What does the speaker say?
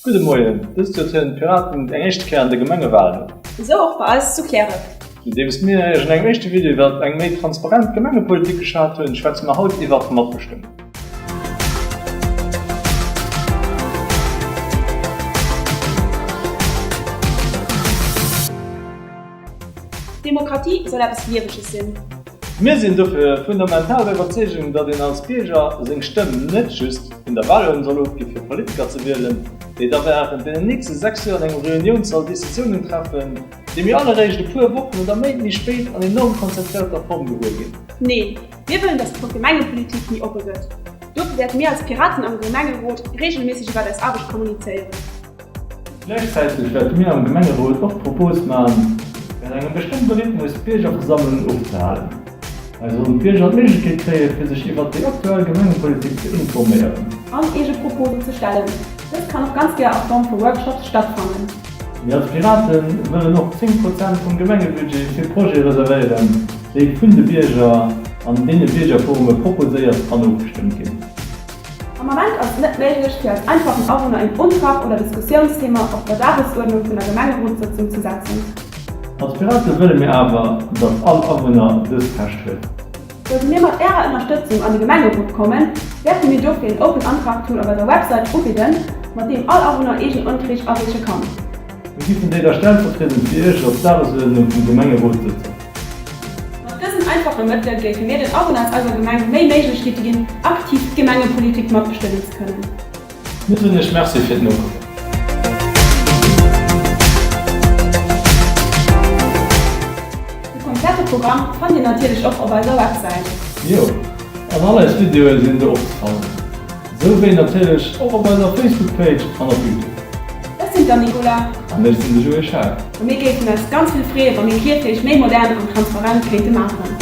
Gudde Moien. Dëst Joer trieden d'Piraten eng éischte Kéier an de Gemengewalen un. Esou och bei eis zu Kläref. Nodeems mir Iech an engem éischte Video iwwert eng méi transparent Gemengepolitik geschwat hunn, schwätze mer haut iwwert d'Matbestëmmung. Demokratie soll eppes Lieweges sinn. Mir sinn dofir fundamental der Iwwerzeegung, datt een als Bierger seng Stëmm net just vun der Walurn soll ofginn, fir Politiker ze wielen, déi da während deenen nächste sechs Joer an engem Reuniounssall Decisiounen treffen, déi mir all eréischt e puer Wochen oder Méint méi spéit an enorm konzentrierter Form gewuer ginn. Neen, mir wëllen, datt d'Gemengepolitik méi oppe gëtt. Dofir wäerte mir als Piraten am Gemengerot reegelméisseg iwwert eis Aarbecht kommunizéieren. Gläichzäiteg wäerte mir am Gemengerot och d'Propos maachen, während engem bestëmmte Rhythmus d'Biergerversammlungen ofzehalen. Hei sollen d'Bierger d'Méiglechkeet kréien, fir sech iwwert déi aktuell Gemengepolitik ze informéieren. An eege Proposen ze stellen. Dëst kann och ganz gär a Form vu Workshops stattfannen. Mir als Pirate wëllen och 10 Prozent vum Gemengebudget fir Projete reservéieren, déi vun de Bierger an deene Biergerforume proposéiert an ofgestëmmt ginn. Am Ament ass et net méiglech, fir als einfachen Awunner een Untrag oder Diskussiounsthema op der Dagesuerdnung vun der Gemengerotssëtzung ze setzen. Als Pirate wëlle mir awer, datt all Awunner dëst Recht huet. Sollte mir mat Ärer Ënnerstëtzung an de Gemengerot kommen, wäerte mir dofir een Open Untrag Tool op eiser Websäit ubidden, mat deem all Awunner eegen Unträg areeche kann. Mir gi vun déi da Stellvertriedend fir Iech op d'Dagesuerdnung vun Gemengerotssëtzung. Mat dësen einfache Mëttele géife mir den Awunner aus eiser Gemeng méi Méiglechkeete ginn, aktiv d'Gemengepolitik matbestëmmen ze kënnen. Mir soen Iech Merci fir d'Nokommen. De komplette Programm fannt Dir natierlech och op eiser Websäit. Jo, an all eis Videoe sinn do opzefannen. Sou wéi natierlech och op eiser Facebook Page an op Youtube. Ech sinn d'Anne Nicola. An ech sinn de Joé Schaack. A mir géifen eis ganz vill freeë wa mir Kierchbierg méi modern an transparent kéinte maachen.